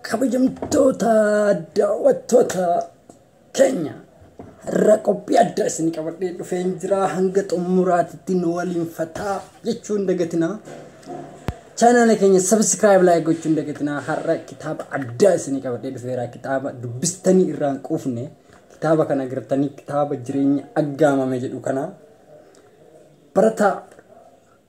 kabajamtoota daawwattoota keenya irra qophii addaa isin qabadhee dhufeen jira hanga xumuraatitti nu waliin fataa jechuun dagatinaa chaanaala keenya sabiskiraayib laayik gochuun dagatinaa har'a kitaaba addaa isin qabadhee dhufeera kitaaba dubbistanii irraan quufne kitaaba kana agartanii kitaaba jireenya aggaamame jedhu kana barataa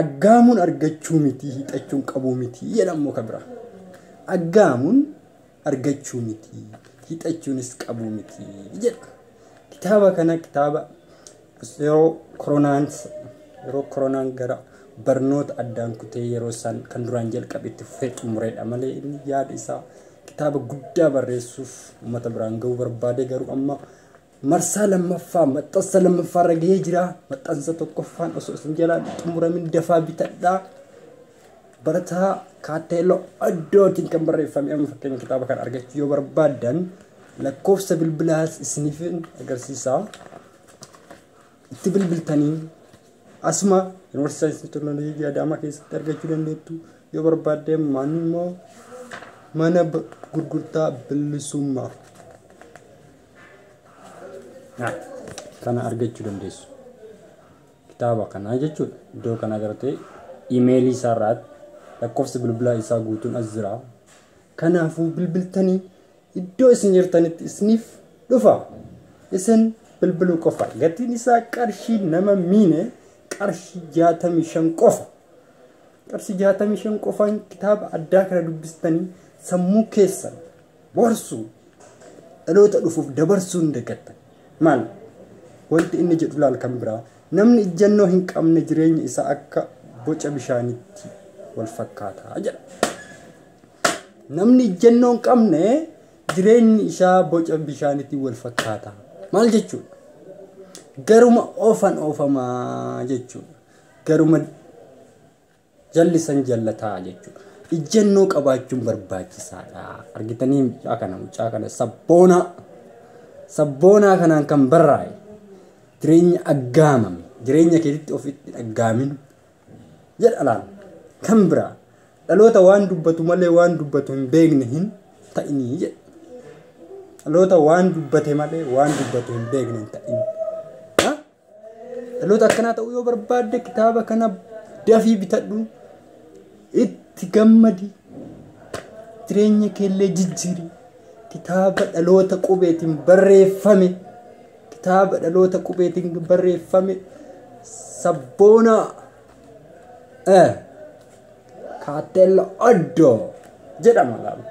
Aggaamuun argachuu mitii hiixachuun qabuu mitii jedha immoo ka biraa. Aggaamuun argachuu mitii hiixachuunis qabuu mitii jedha. Kitaaba kana kitaaba yeroo koronaan yeroo koronaan gara barnoota addaan kutee yeroo isaan kan duraan jalqabe itti fufee xumureedha malee inni yaada isaa kitaaba guddaa barreessuuf uummata biraan ga'uu barbaade garuu amma marsaa lammaffaa maxxansa lammaffaa irra gahee jira maxxansa tokkoffaan osoo isin jalaa xumuramin dafaa bitadhaa barataa kaatteelloo addootiin kan barreeffame amma fakkeenya kitaaba kan argachuu yoo barbaaddan lakkoofsa bilbilaas isiniif agarsiisaa itti bilbiltanii asuma yuunivarsiitii saayinsii teknooloojii adaamaa keessatti argachuu dandeettu yoo barbaadde maanni immoo mana gurgurtaa bilisummaa kana argachuu dandeessu. Kitaaba kanaa jechuudha. Iddoo kanaa gartee imeelii isaa irraatti lakkoofsi bilbilaa isaa guutuun as jira. Kanaafuu bilbiltanii iddoo isin jirtanitti isiniif dhufa. Isin bilbiluu qofa. Gatiin isaa qarshii nama miine qarshii jaatamii shan qofa. Qarshii jaatamii shan qofaan kitaaba addaa kana dubbistanii sammuu keessan Warsu dhaloota dhufuuf dabarsuu hin dagatta. Maal? Wanti inni jedhu laal kan biraa. Namni ijjannoo hin qabne jireenyi isaa akka boca bishaanitti wal fakkaata jedha. Namni ijjannoo hin qabne jireenyi isaa boca bishaanitti wal fakkaata. Maal jechuudha? Garuma oofan oofamaa jechuudha. Garuma Jalli san jallataa jechuudha. Ijjannoo qabaachuun barbaachisaadha. Argitanii mucaa kana mucaa kana sabboonaa sabboonaa kanaan kan barraa'e jireenya aggaamame jireenya keetitti ofitti dhaggaamin jedha laal kan biraa dhaloota waan dubbatu malee waan dubbatu hin beekne hin ta'inii jedha. Dhaloota waan dubbate malee waan dubbatu hin beekne hin ta'in. Dhaloota akkanaa ta'uu yoo barbaadde kitaaba kana dafii bitadhu itti gammadi jireenya keellee jijjiiri kitaaba dhaloota qubeetiin barreeffame kitaaba dhaloota qubeetiin barreeffame sabboonaa. Eh, kaatella oddoo jedhama laala.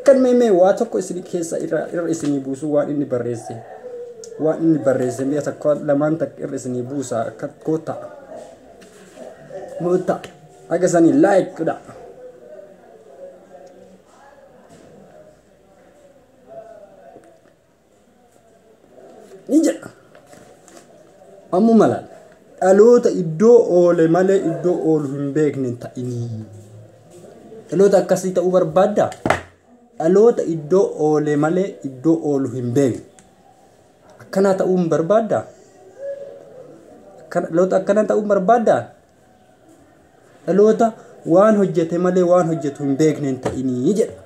Kan meemee waa tokko isin keessa irra irra isinii buusu waan inni barreesse. Waan inni barreesse mi'a tokko lamaan takka irra isinii buusa akka goota. Moota. Akka sanii like godha. ni jedha ammuma laal dhaloota iddoo oole malee iddoo oolu hin beekne hin ta'inii dhaloota akkasii ta'uu barbaadda dhaloota iddoo oole malee iddoo oolu hin beekne akkanaa ta'uu hin barbaadda Akkana- dhaloota akkana ta'uu hin barbaadda dhaloota waan hojjete malee waan hojjetu hin beekne hin ta'inii jedha.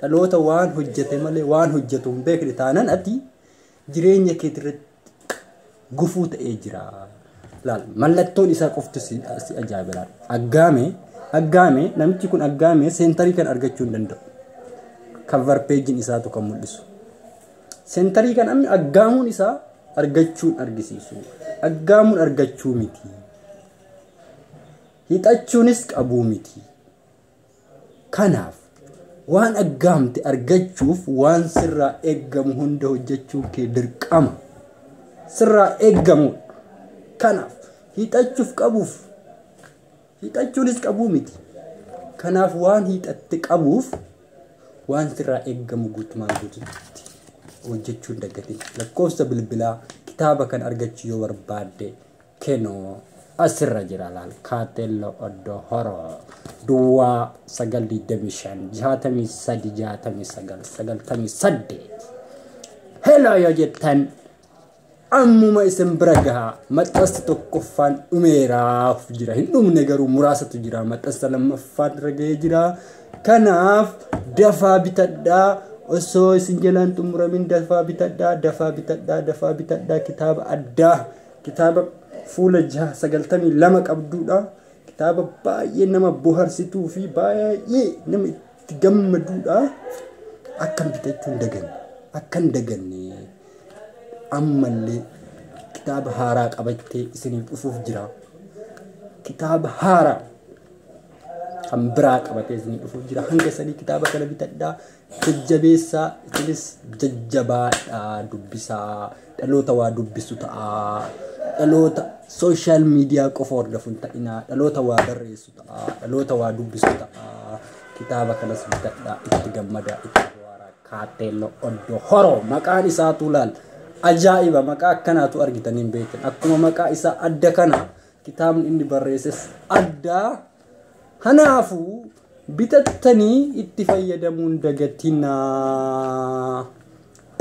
Dhaloota waan hojjete malee waan hojjetu hin beekne taanan ati jireenya keetirratti gufuu ta'ee jira. Laal mallattoon isaa qofti si si ajaa'iba laal. Aggaame aggaame namichi kun aggaame seentarii kan argachuu hin danda'u. Cover page isaatu kan mul'isu. Sentarii kan amni aggaamuun isaa argachuun argisiisu. Aggaamuun argachuu miti. Hixachuunis qabuu miti. Kanaaf waan aggaamte argachuuf waan sirraa eeggamu hunda hojjechuun kee dirqama. Sirraa eeggamudha. Kanaaf hixachuuf qabuuf Hiixachuunis qabuu miti. Kanaaf waan hiixatte qabuuf waan sirraa eeggamu guutumaan guututti hojjechuun dagatin. Lakkoofsa bilbilaa kitaaba kan argachuu yoo barbaadde kenoo asirra jira laal. Kaatello Oddo Horo Duwwaa 925 63 69 98 Hello yoo jettan Ammuma isin bira gaha. Maxxansi tokkoffaan dhumeeraaf jira. Hin dhumne garuu muraasatu jira. Maxxansa lammaffaan irra gahee jira. Kanaaf dafaa bitadhaa. Osoo isin jalaan xumuramin dafaa bitadhaa. Dafaa bitadhaa. Dafaa bitadhaa. Kitaaba addaa. Kitaaba fuula jaha sagaltamii lama qabduudha. Kitaaba baay'ee nama boharsituu fi baay'ee nama itti gammaduudha. Akkan bitachuu hin daganne. Akkan daganne. ammallee kitaaba haaraa qabattee isiniif dhufuuf jira kitaaba haaraa kan biraa qabatee isiniif dhufuuf jira hanga sanii kitaaba kana bitadhaa jajjabeessaa isinis jajjabaadhaa dubbisaa dhaloota waa dubbisu ta'aa dhaloota sooshaal miidiyaa qofa hordofuun ta'inaa dhaloota waa barreessu ta'aa dhaloota waa dubbisu ta'aa kitaaba kanas bitadhaa itti gammadaa itti bohaaraa Kaatteello Oddo Horo maqaan isaatuu laal ajaa'iba maqaa akkanaatu argitan hin beektan akkuma maqaa isaa adda kana kitaabni inni barreesses addaa kanaafuu bitattanii itti fayyadamuun dagatinaa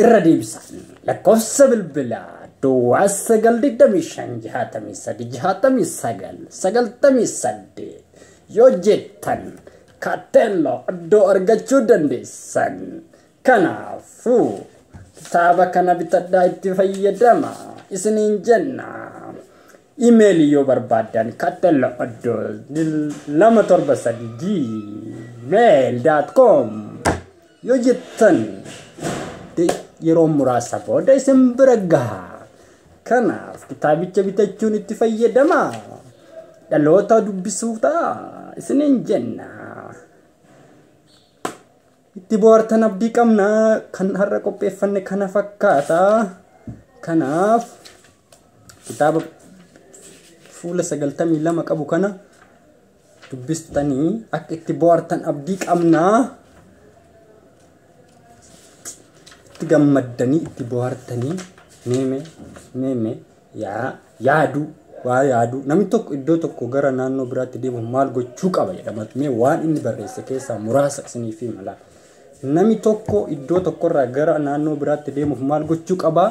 irra deebisa lakkoofsa bilbilaa duwwaa sagal digdamii shan jahaatamii sadi jahaatamii sagal sagaltamii saddeet yoo jettan Kaatteelloo iddoo argachuu dandeessan. Kanaafuu kitaaba kana bitadhaa itti fayyadama isiniin jenna. Imeelii yoo barbaaddan kaatteelloo iddoo lama torba sadii gmail.com yoo jettan yeroo muraasa booda isin bira gaha. Kanaaf kitaabicha bitachuun itti fayyadamaa. Dhaloota dubbisuu ta'a isiniin jenna. Itti bohaartan abdii qabna kan har'a qopheeffanne kana fakkaata. Kanaaf kitaaba fuula sagaltamii lama qabu kana dubbistanii akka itti bohaartan abdii qabna. Itti gammaddanii itti bohaartanii meeme meeme yaa yaaduu waa yaaduu namni tokko iddoo tokko gara naannoo biraatti deemuuf maal gochuu qaba jedhama mee waan inni barreesse keessaa muraasa isiniif hima laata. Namni tokko iddoo tokkorraa gara naannoo biraatti deemuuf maal gochuu qaba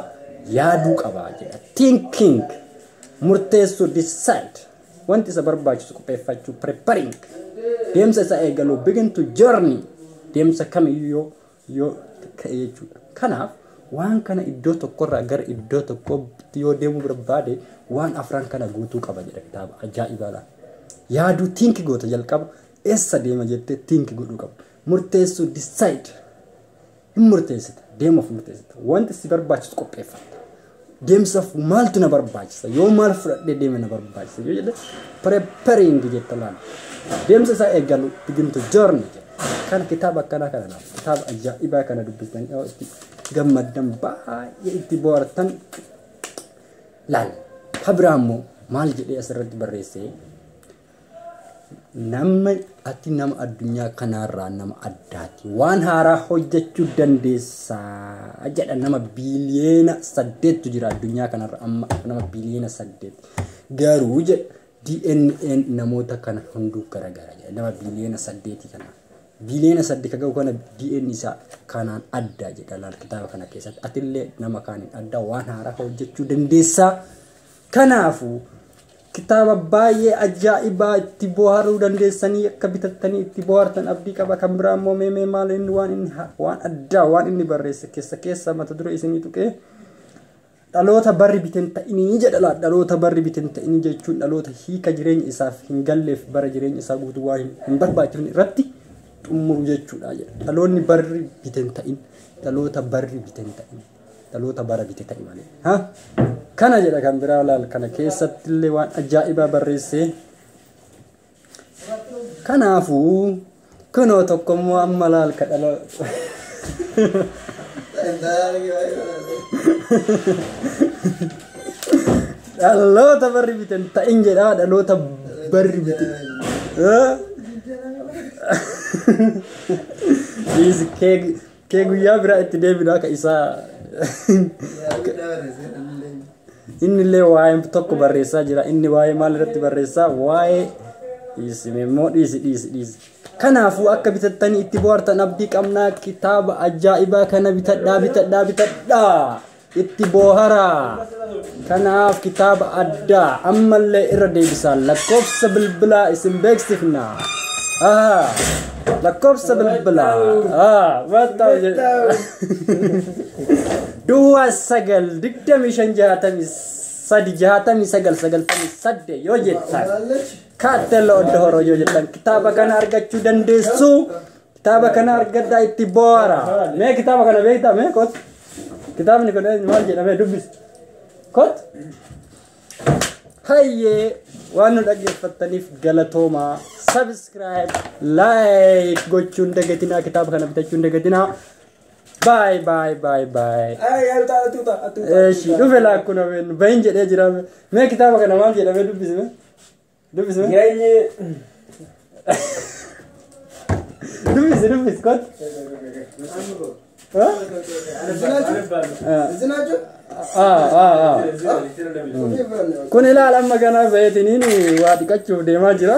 yaaduu qaba jedha. Thinking murteessuu decide. Wanti isa barbaachisu qopheeffachuu preparing. Deemsa isaa eegaluu begin to journey. Deemsa kamiyyuu yoo yoo ka'e jechuudha. Kanaaf waan kana iddoo tokkorraa gara iddoo tokkootti yoo deemuu barbaade waan afran kana guutuu qaba jedha kitaaba ajaa'ibaa laata. Yaaduu tiinki goota jalqaba eessa deema jettee tiinki godhuu qaba. Murteessuu decide hin murteessita deemuuf murteessita wanti si barbaachisu qopheeffatta deemsaaf maaltu na barbaachisa yoo maal fudhadhee deeme na barbaachisa yoo jedhe preparing jetta laal deemsa isaa eegalu begin to journey jedha kana kitaaba akkanaa kana laal kitaaba ajaa'ibaa kana dubbistanii yoo itti gammaddan baay'ee itti bohaartan laal habiraa immoo maal jedhee asirratti barreessee Namni ati nama addunyaa kanaarraa nama addaati. Waan haaraa hojjechuu dandeessa jedha nama biiliyeena saddeettu jira addunyaa kanarra amma nama biiliyeena saddeet. Garuu jedha DNAn namoota kana hunduu garagara jedha nama biiliyeena saddeeti kana. Biiliyeena saddeet ga'u kana DNA isaa kanaan adda jedha laal kitaaba kana keessatti. Atillee nama kaaniin adda waan haaraa hojjechuu dandeessa. Kanaafuu Kitaaba baay'ee ajaa'ibaa itti bohaaruu dandeessanii akka bitattanii itti bohaartan abdii qaba kan biraa immoo mee mee maal inni waan inni ha- waan addaa waan inni barreesse keessa keessa mata duree isinii tuqee dhaloota barri biten ta'inii jedha laa dhaloota barri biten ta'inii jechuun dhaloota hiika jireenya isaaf hin galleef bara jireenya isaa guutuu waa hin hin barbaachifne irratti xumuru jechuudha jedha dhaloonni barri biten ta'in dhaloota barri biten ta'in. dhaloota bara bite ta'i malee. Ha? Kana jedha kan biraa laal kana keessatti illee waan ajaa'ibaa barreessee. Kanaafuu kunoo tokko immoo amma laal ka dhaloota. Dhaloota barri biten ta'in jedhaa dhaloota barri bite. Ha? Dhiisi keek Kee guyyaa biraa itti deebinaa ka isaa inni illee waa'ee tokko barreessaa jira inni waa'ee maal irratti barreessaa waa'ee dhiisi immoo dhiisi dhiisi dhiisi. Kanaafuu akka bitattanii itti bohaartan abdii qabnaa kitaaba ajaa'ibaa kana bitadhaa bitadhaa bitadhaa. Itti booharaa! Kanaaf kitaaba addaa ammallee irra deebisaan lakkoofsa bilbilaa isin beeksifna. Aha! Lakkoofsa bilbilaa. Ah, watta Duwwaa sagal digdamii shan jaatamii sadi jaatamii sagal sagaltamii sadde yoo jettan kaatteelloo odda horoo yoo jettan kitaaba kana argachuu dandeessu. Kitaaba kana argadhaa itti boo'ara. Mee kitaaba kana beektaa mee kot. Kitaabni kun eenyu maal jedhamee dubbisi. Kot. Hayyee waan nu dhaggeeffattaniif galatoomaa. Subscribe, like gochuun dagatinaa kitaaba kana bitachuun dagatinaa. Bye bye bye bye. Eeshi dhufe laakkuna been bahin jedhee jira. Mee kitaaba kana maal jedhamee dubbisi mee. Dubbisi mee. Jireenyi Dubbisi dubbisi kot. Ah ah ah. Kun ilaala amma ganaa zayitiniin waa dhiqachuuf deemaa jira.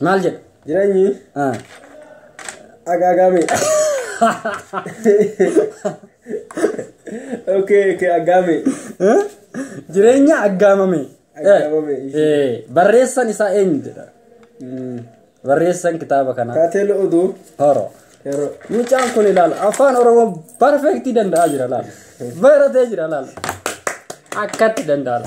Maal jedha? Jireenyi Ah. agaagame. Okay, okay, agaame. Eh? Jireenya aggaamame. Aggaamame, Eh, eh, Barreessan isaa eenyu jedha? Mm. Barreessan kitaaba kanaa. Taatee lo'oduu Horo. yeroo Mucaan kun ilaala afaan oromoo barfeektii danda'aa jira laala. Baratee jira laala. Akkatti danda'a.